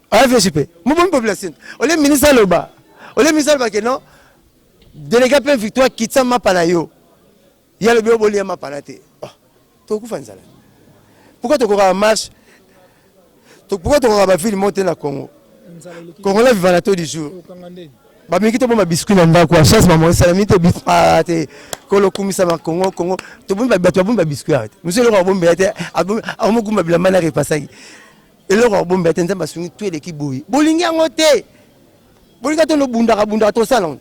Speaker 2: afc pe mobomi population ole ministre aloba ole ministre aloba ke non délégué mpe victoire kitisa mapa na yo ye alobi yo bolia mapa na te oh, tokokufa nzala pourkoi tokokaka marche pourkoi tokokaka bavile moko te na congo congolais viva na to du jour bameki tobomba biscuit na ndako ya chance mama esalami te ah, te kolokumisa bakongo kongo bato babombi babiscuit awa te mosu eloko abombi ya te akomogumba bilamba na repasaki eloko ya kobomba te nzambe asungi to eleki boye bolingi yango te bolingi ata nobundaka bundaka tosala ngo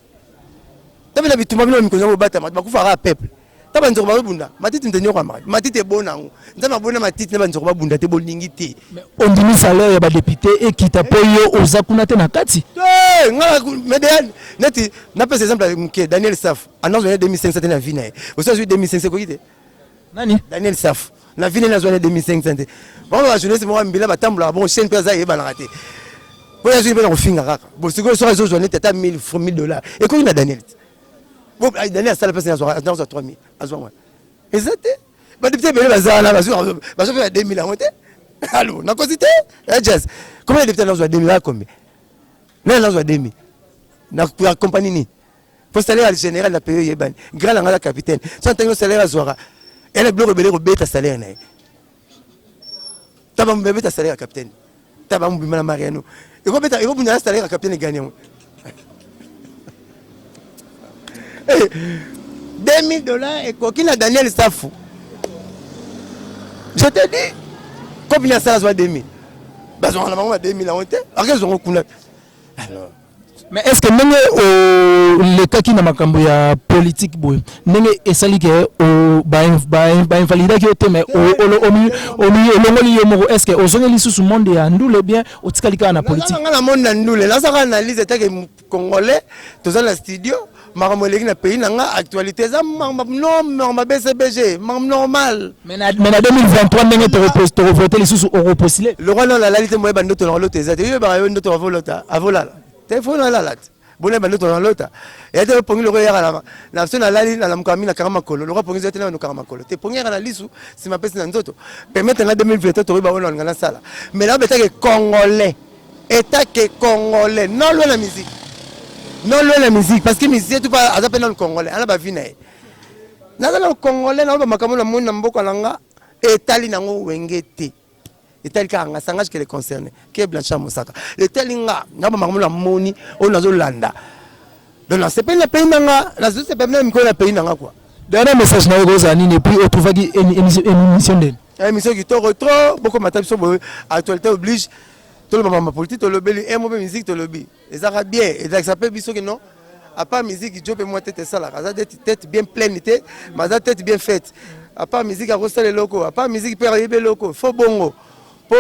Speaker 2: tabela bitumba bino mikolo yango bobatama bakufaka peuple ta banzoko bazobunda matiti nde nyoko amaka matiti ebona yango nzambe abona matiti na banzoko babunda te bolingi te ondimi salaire
Speaker 7: ya badepute ekita mpo yo oza kuna te na kati ngai
Speaker 2: neti napesa exemple ya moke daniel saf anazwa 2500 te na vi na ye osi azwi 2500 ekoki te nani daniel
Speaker 7: safu
Speaker 2: na vile nazwa na 2500 te bango bajournaliste moko mbila batambolaka bongo chaine mpe aza eyebanaka te mpo yazwi mpe na kofinga kaka bo sikoyo soki azozwa neti ata 1000 fr 1000 dollar ekoki na daniel te bo ah, daniel asala mpasi nazwa 3000 azwa wana eza te badepute ebele baza wana bazopesa ya 2000 yango te alo nakosi te ajas eh, kombe ya depute nazwa 2000 akombe nani nazwa 2000 na kompani nini po salaire ya general na paye eyebani grand na ngai na capitaine so ntango yo salaire azwaka ele biloko ebele kobeta salaire na ye taba mobima ebeta salaire ya capitaine taba mobima na mariano ekobeta ekobunda na salaire ya capitaine egani yango 2000 eh, dollars ekoki na daniel safu je te dis kopi na sala azwa 2000 bazwaka na bango ba 2000 yango te akezwango kuna alors
Speaker 7: Mais est ce que ndenge o lekaki na makambo ya politique boye ndenge esali ke o ba ba invalidaki yo te mais o mi elongoli yo moko est ce que ozongi lisusu monde ya ndule bien otikali kaka na politique nga na monde na ndule
Speaker 2: naza kaka analyse etake congolais toza na studio makambo eleki na pays na nga actualité eza norma bcbg makambo normal mais
Speaker 7: na 2023 ndenge tokovote lisusu okopostile lokola nao nalali te moyeba
Speaker 2: ndoto nanga lota eza te oyebaka yo ndoto avolota avolala te fo nalala te bonayeba ndoto nanga lota eya te pongi lokola eyaka na na so nalali nalamuka mi nakanga makolo lokola pongi eza te na nokanga makolo te pongi eyaka na lisu nsima pesi na nzoto permettre nga 2023 tokoyeba oyo nalinga nasala mais nabetake congolais Etat que congolais non loin la musique non loin la musique parce que musicien tout pas aza pe nanu congolais ana ba vie na ye naza nanu congolais na ba makambo na moni na mboka na nga etali nango wenge te etali kaka nga sangage que les concernés que Blanchard Mosaka etali nga na ba makambo na moni oyo nazo landa donc na sepeli na pays na nga na sepeli na mikolo na pays na nga quoi dernier message na yo
Speaker 7: kozala nini et puis otrouvaki émission ndeni Emission kitoko
Speaker 2: trop, boko mata biso boye, actualité oblige. Toloba mama politique tolobeli, emo pe musique tolobi. Ezaka bien, ezakisa pe biso que non. À part musique, Joe pe moi tete salaka, aza tete bien pleine te, mais aza tete bien faite. À part musique akosala eloko, à part musique pe ayebi eloko, fo bongo. Po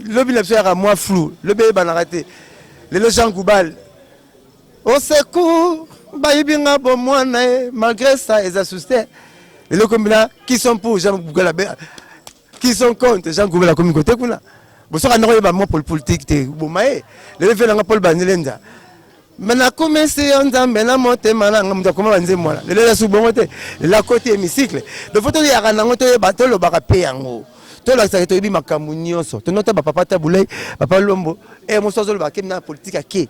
Speaker 2: lobi na biso yaka mwa flou, lobi eyebanaka te. Lelo Jean Goubal Au secours, bayibi nga bo mwana ye malgré ça eza souci te eloko mbila qui sont pour Jean Gubela qui sont contre Jean Gubela komi kote kuna bosoka ndako yeba mwa politique te boma ye lelo vela nga Paul Banelenda me nakumisi yo nzambe na motema na nga moto akoma banzembo wana lelo eza su bongo te lelo akoti hémicycle donc fo toyaka nango toyeba tolobaka mpe yango tolakisaka toyebi makambo nyonso tonota bapapa tabulai papa lombo e eh, mosu azoloba ke na politike ake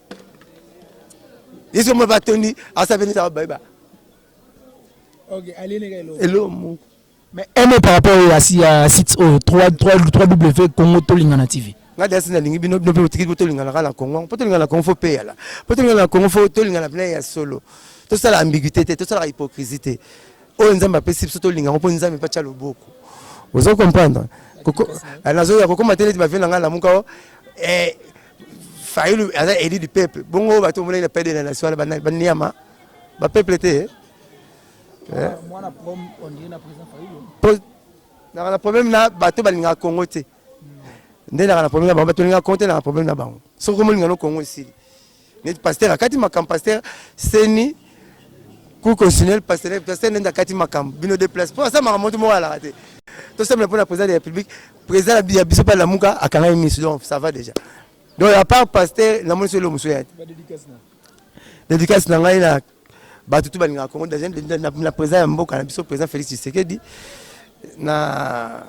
Speaker 2: yesu moko batondi asabeli za bayeba
Speaker 7: eloko moko
Speaker 2: mais un
Speaker 7: mot par rapport ya ya site oyo 3w congo tolingana tv nga dasi nalingi bino
Speaker 2: bino mpe otiki po tolingana kaka na congo po tolingana na congo fo peyala po tolingana na congo fo tolingana mpena ya solo tosala ambiguité te tosalaka hypocrisie te oyo nzambe apesi biso tolinga yango mpo nzambe mpe atya loboko ozo comprendre eh, nazoya kokoma te neti bavie na ngai lamuka o oh. eh, Fayulu aza élu du peuple. Bongo bato mona na père de la nation na bana baniama. Ba peuple te. Eh? Mwana prom on dit na président Fayulu. Na na problème na bato balinga Congo te. Nde na na problème na bango bato balinga Congo te na problème na bango. Soko molinga no Congo esili. Neti pasteur akati makambo pasteur seni ku continuer le pasteur pasteur nenda kati makambo bino de place po asa makambo to mo ala te. To semble pour la président de la République Président ya biso pa lamuka akanga misu donc ça va déjà. Donc à part pasteur na moni solo musu ya. Dédicace na ngai na bato tout balingaka Congo déjà na président ya mboka na biso président Félix Tshisekedi na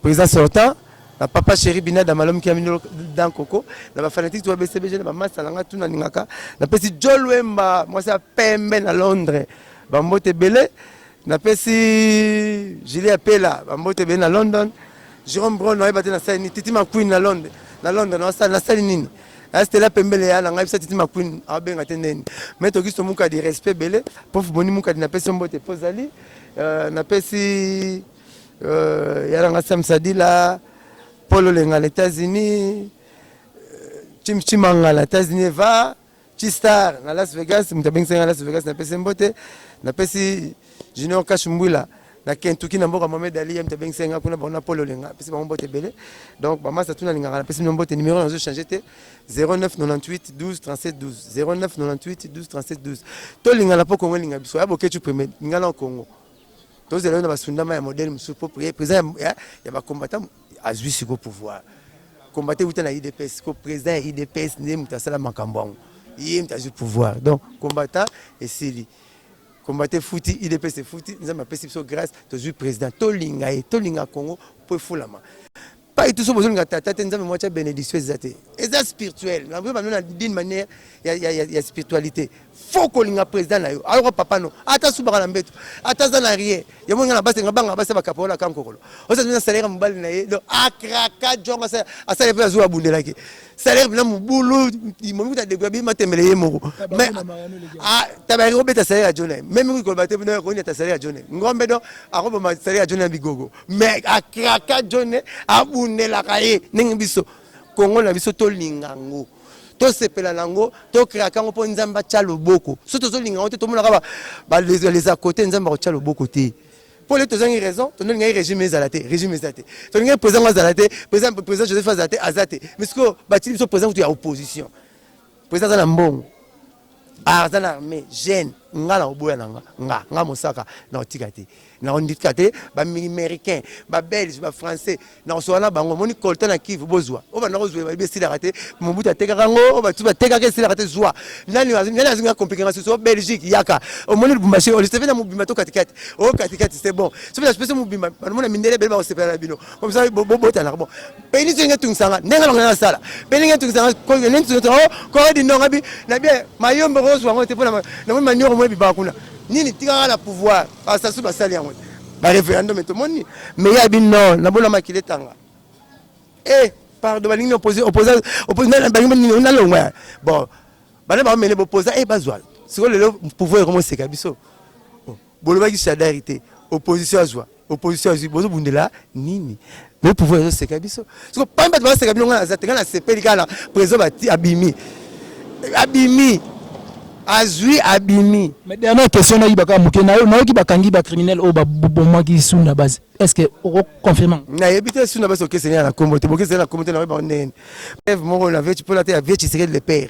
Speaker 2: président sortant na papa chéri bina da malom kiamino dan koko na ba fanatique to BCBG na ba masta langa tuna ningaka na pesi Jolwemba mwasi ya pembe na Londres ba mbote belé Napesi Julie Apela bambote ebele na London. Jerome Brown ayeba te nasali nini. Titi McQueen na London, na London nasali nasali nini? Eh, Stella Pembele ya na ngai bisa Titi McQueen abenga te neni. Mais tokiso mukadi respect ebele. Prof Boni mukadi napesi yo mbote mpo ozali. Euh, napesi euh, ya na ngai Sam Sadila, Paul Olenga na États-Unis, euh, Chim Chimanga na États-Unis eva. Chistar na Las Vegas, moto abengisaki na Las Vegas, napesi mbote, napesi Junior Cash Mbwila na Kentucky na mboka Mohamed Ali ye moto abengisaki nga kuna bango na Polo Lenga, napesi bango mbote ebele. Donc ba masta tuna lingaka, napesi bino mbote, numero nazo changer te 0998 12 37 12 0998 12 37 12. To lingana po Kongo linga biso, ya Boketshu premier, lingana Kongo. Tozela yo na basundama ya modèle mosusu po président ya, ya, ya ba combattants azui siko pouvoir combattant euta na udps siko president ya udps nde moto asala makambo yango ye moto azui pouvoir donc combattant esili combattant efuti udps efuti nzambe apesi biso grâce tozui president tolinga ye tolinga congo mpo efulama pai tout so bozolinga tata te nzambe mwatya benediction eza te eza spirituel naboye bamino na d'une manière ya, ya, ya, ya spiritualité faut kolinga président na yo ayoka papa no ata asubaka na mbeto ata aza na rien yango nga na basi nga banga basi bakapao na kankokolo oza na salaire ya mobali na ye donc akraka jongo asala mpe azwi abundelaki salaire mpena mobulu momikuta degra bi matembele ye moko mais tabaki kobeta salaire ya jone me mingi koloba te bino yakoni ata salaire ya jone ngombe donc akoboma salaire ya jone ya bigogo mais akraka jone abundelaka ye ndenge biso kongo na biso tolinga ngo tosepela na yango tokreaka yango mpo nzambe atya loboko so tozolinga yango te tomonaka balesa kote nzambe akotya loboko te mpo lete tozangi raison tondolingaki régime ezala te régime eza te tolingaki président ngo azala te président joseph azala te aza te mais sikoyo batili biso président kutu ya opposition président aza na mbongo aza na arme jeune nga na oboya na nga nga nga mosaka na otika te na ondika te ba américain ba belge ba français na osola na bango moni colta na kivu bozwa o banda kozwa ba besi la te mobutu atekaka ngo ba tu batekaka esi la te zwa nani nani azingi na compliquer ngaso so belgique yaka o moni lubumbashi o liseve na mobimba to katikati o katikati c'est bon so na spese mobimba ba mona mindele bele ba osepela na bino comme ça bo bota na bon peni ndenge tungisa nga ndenge longa na sala peni ndenge tungisa nga ko ne tungisa to ko di ndonga bi na bien mayombo ko zwa ngote pona na moni manioko mwe biba kuna nini tika la pouvoir ba sasu ba sali yango ba referendum to moni mais ya bi non na bona makile tanga eh pardon ba lingi opposé opposé opposé na ba lingi na longwa bon bana ba mele bo posa eh bazwa siko lelo pouvoir ko mo seka biso oh. Bolobaki Shadary te, opposition azwa, opposition azwi, bozo bundela nini? Le pouvoir ezo seka biso. Siko pami bato bazo seka bino ngana za te, ngana sepeli kaka na president bati abimi. Abimi. Azwi abimi. Mais dernière question
Speaker 7: na yibaka muke na na yoki bakangi ba criminel o ba bomaki sunda base. Est-ce que oko confirmer? Na yebite sunda
Speaker 2: base okeseni na kombo te, bokeseni na kombo te na yeba ndenge. Preuve moko na vechi pona te ya vechi seke le père.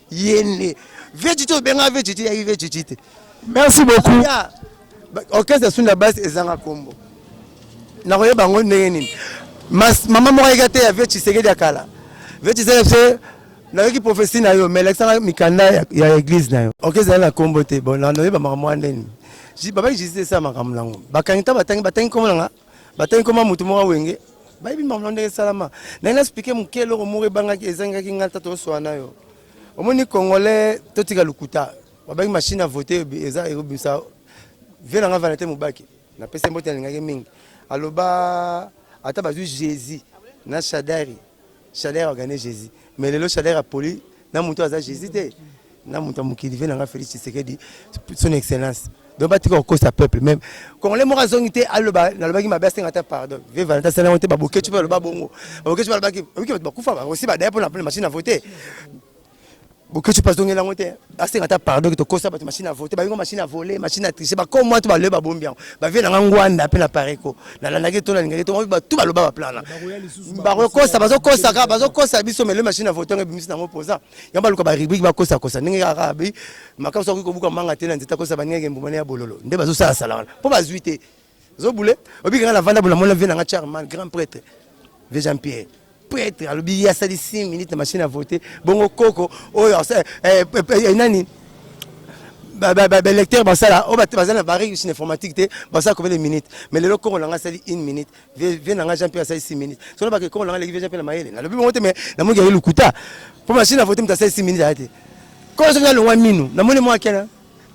Speaker 2: yende veciti obenga veciti yaki veciti te merci beaucoup orchestre ya sunda base ezanga kombo nakoyeba yango ndenge nini mama moko ayeki ateya vie tshisekedi ya kala vie tshisekedi se nayoki profesi na yo mais lakisanga mikanda ya eglise na yo oke ezali na kombo te bon nayoyeba makambo wana ndeni babaki jisite esala makambo nango bakangi ntango batangi batangi kombo nanga batangi koma motu moko wenge bayebi makambo ndenge esalama naye naspike moke eloko moko ebangaki ezangaki ngai tata osoa na yo omoni congolais totika lokuta babangi machine ya vote eza ekobimisa vie na ngai vanete mobaki napesi mbote alingaki mingi aloba ata bazwi jésus na shadari Chaleur organise Jesus. Mais lelo chaleur apoli na mutu aza Jesus te. Na mutu mukili vena nga Felix Tshisekedi son excellence. Donc ba tika kokosa peuple même congolais moko azongi te aloba nalobaki mabe asenga ata pardon vie valenta asala yango te babokecu mpe aloba bongo babokecu balobaki oyoki bato bakufa bakosi badaya mpo na machine na vote bokeci mpe azongeli yango te asenga ata pardon ke tokosa bato machine ya vote bayingo machine ya vole machine ya triche bakoo mwa to baloye babombi yango bavie nanga ngwanda mpe na pareko nalandaki to nalingaki to batu baloba baplana bakokosa bazokosa kaka bazokosa biso mele machine ya vote yango ebimisi nango mpoza yango baluka barubrike bakosakosa ndenge kaka bi makambo soki kobuka manga te na nzete akosa baningaki mbuma ne ya bololo nde bazosala sala wana mpo bazwi te Zo boule, obika nga na vanda bona mona vie na nga charman grand prêtre. Vie Jean Pierre. Prêtre alobi ye asali 5 minutes na machine à voter. Bongo koko oyo asala eh, eh, eh, nani balecteur basala oyo oh, baza na bareuse na informatique te basala combien de minutes mais lelo kongo na ngai asali une minute vie na ngai jean pierre asali six minutes so nabake kongo na ngai leki vie jean pierre na mayele nalobi bongo te mais namongi yaye lokuta mpo machine avote moto asali six minutes aya te kongo soki nalongwa minu namoni mwa kena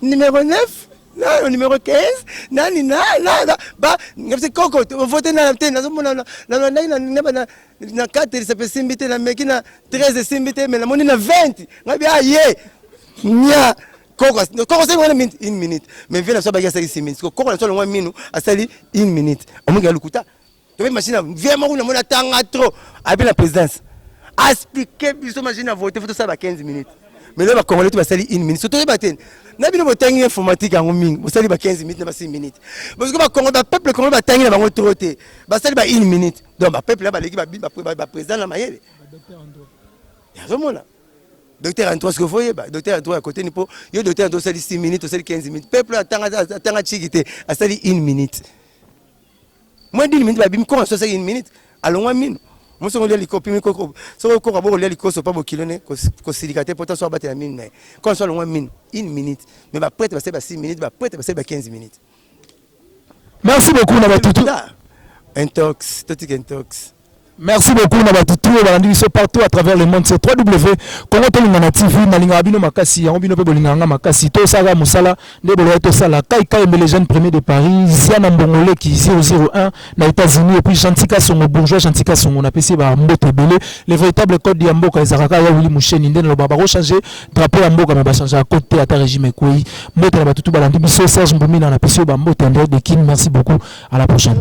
Speaker 2: Numero 9 nano numero 15 nani na na ba ngapse koko vote na te nazo mona na na ndai na na na na 4 ça peut simbi te na meki na 13 simbi te mais na moni na 20 ngabi ah ye nya koko koko sali wana minute une minute mais vena so ba ya sali 6 minutes koko na so longwa minu asali une minute omongi alukuta Tobi machine ya vie moko na mona tanga trop. Abi na présidence. Expliquer biso machine ya vote faut ça ba 15 minutes. Mais là ba congolais ba sali 1 minute. Surtout ba ten. Na bino botangi informatique yango mingi. Bo sali ba 15 minutes na ba 6 minutes. Parce que ba congolais ba peuple congolais ba tangi na bango trop te. Ba sali ba 1 minute. Donc ba peuple là ba leki ba ba, ba président na mayele. Docteur Andro. Yazomona. Docteur Andro ce que voyez ba docteur Andro à côté ni po. Yo docteur Andro sali 6 minutes, sali 15 minutes. Peuple là tanga tanga chiki te. A sali 1 minute. Moins d'une minute babimi koko na 60 minutes alongwa mino. Moso ngolia liko pimi koko soko koko boko lia likoso pa bokilo ne kosilika te pota so abatela mino naye. Koko so alongwa mino une minute mais ba prêtre basali ba 6 minutes ba prêtre basali ba 15 minutes.
Speaker 7: Merci beaucoup na batutu. Intox,
Speaker 2: totika intox. Merci beaucoup
Speaker 7: na batu tout balandi biso partout à travers le monde c'est www.congo tolingana TV nalingaka bino makasi yango bino pe bolingaka nga makasi to sala musala nde boloya to sala kai kai mbele jeune premier de Paris ziana mbongole ki 001 na États-Unis et puis Chantika Songo bourgeois Chantika Songo na pesi ba mbote ebele le véritable code ya mboka ezaka ka ya Willy Musheni nde naloba ba ko changer drapeau ya mboka mais ba changer à côté ata régime ekweyi mbote na batu tout balandi biso Serge Mbumina na pesi ba mbote André Dekin merci beaucoup à la prochaine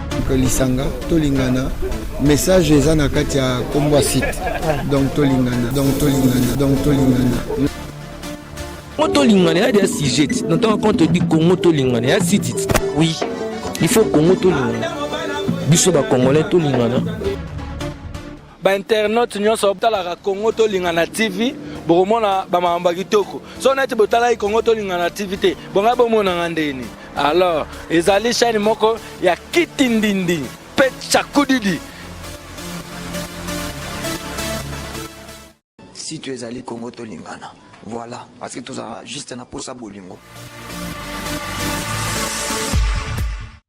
Speaker 8: lisanga tolingana message eza na kati ya kombo ya site donc tolingana donc tolingana donc tolingana
Speaker 3: congo tolingana ya dia sujet na ntango quand todi congo tolingana ya site oui il faut congo tolingana biso bacongolais tolingana
Speaker 4: ba internautes nyonso botalaka Congo tolingana TV bokomona ba makambo kitoko so neti botalaki Congo tolingana TV te bonga bomonanga ndeni alors ezali chaîne moko ya kitindindi pe chakudidi
Speaker 5: site ezali Congo tolingana voilà parce que tozala juste na posa bolingo